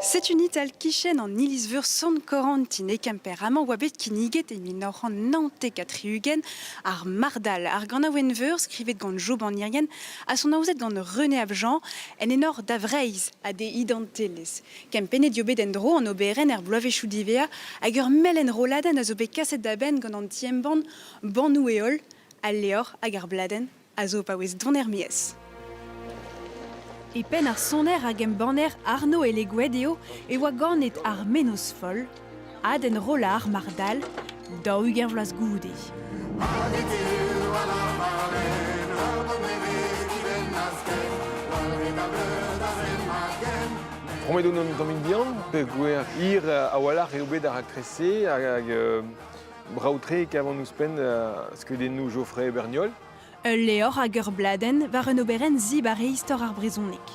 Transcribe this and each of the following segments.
Setu Nital kichen an iliz-veur Sant-Korantin e Kemper amañ oa bet kinniget e mil nav c'hant naontek ha tri-ugent ar Mardal, ar ganaouenn-veur skrivet gant Jo Banierien ha sonaozet gant René Abjean en enor da Vreizh ha d'e identelezh. Kempennet eo bet en-dro an oberenn er bloavezhioù divea hag ur melen-rolladenn a zo bet kaset da benn gant an ti-embann Bannoù-Heol Al levr hag ar bladenn a zo paouez don er-maez. E penn ar soner hag embanner Arno Elegouet eo e oa ganet ar menoz foll, Ad enrollañ mar dal, daou-ugent vloaz goude. Promet on an tamm bihan, pe gwer hir a-walc'h eo bet ar raktres-se hag Brav-tre e kavan ouzhpenn skeudennoù Geoffrey Berniol. Ul levr hag ur bladenn war un oberenn zibar e istor ar brezhoneg.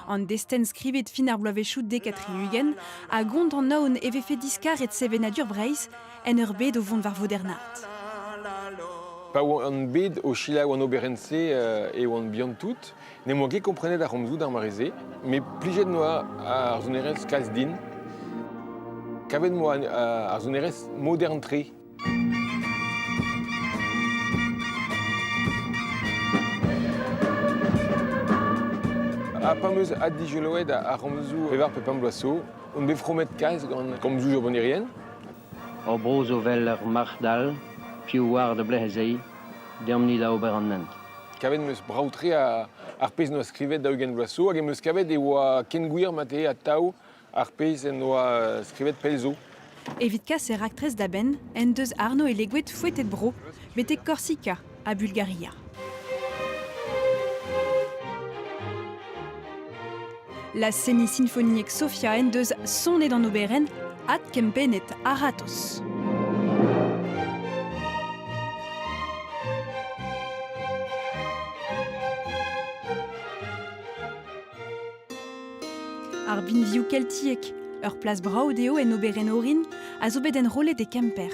An destenn skrivet fin ar bloavezhioù dek ha tri-ugent a gont an aon e vefe diskaret sevenadur Breizh en ur bed o vont war vodernat. Pa oan bet o selaou an oberenn-se e oan bihan-tout, N'em boa ket komprenet ar c'homzoù d'ar mare-se, met plijet noa ar sonerezh kalz din. Kavet noa uh, ar sonerezh modern-tre. Ha pa meus addijoloet ar c'homzoù pevar pe pemp bloaz zo, on bet fromet kalz gant komzoù jobonnerien. O bro zo 'vel ur marc'h dall, piv oar da blez-se, deomp-ni da ober an hent. Kavet em eus brav-tre ar pezh en doa skrivet daou-ugent vloaz zo hag em eus kavet e oa ken gwir mate atav ar pezh en doa skrivet pell zo. Evit kas e raktres da benn en deus Arno Eleguet foetet bro betek Korsika ha Bulgaria. La Sénie symphonique Sofia en deus sonet an oberenn Adkempennet a-ratozh. Ar binvioù keltiek, ur plas brav dezho en oberenn orin, a zo bet enrollet e Kemper.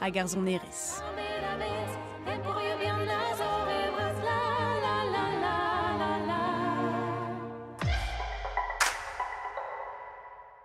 hag ar sonerezh.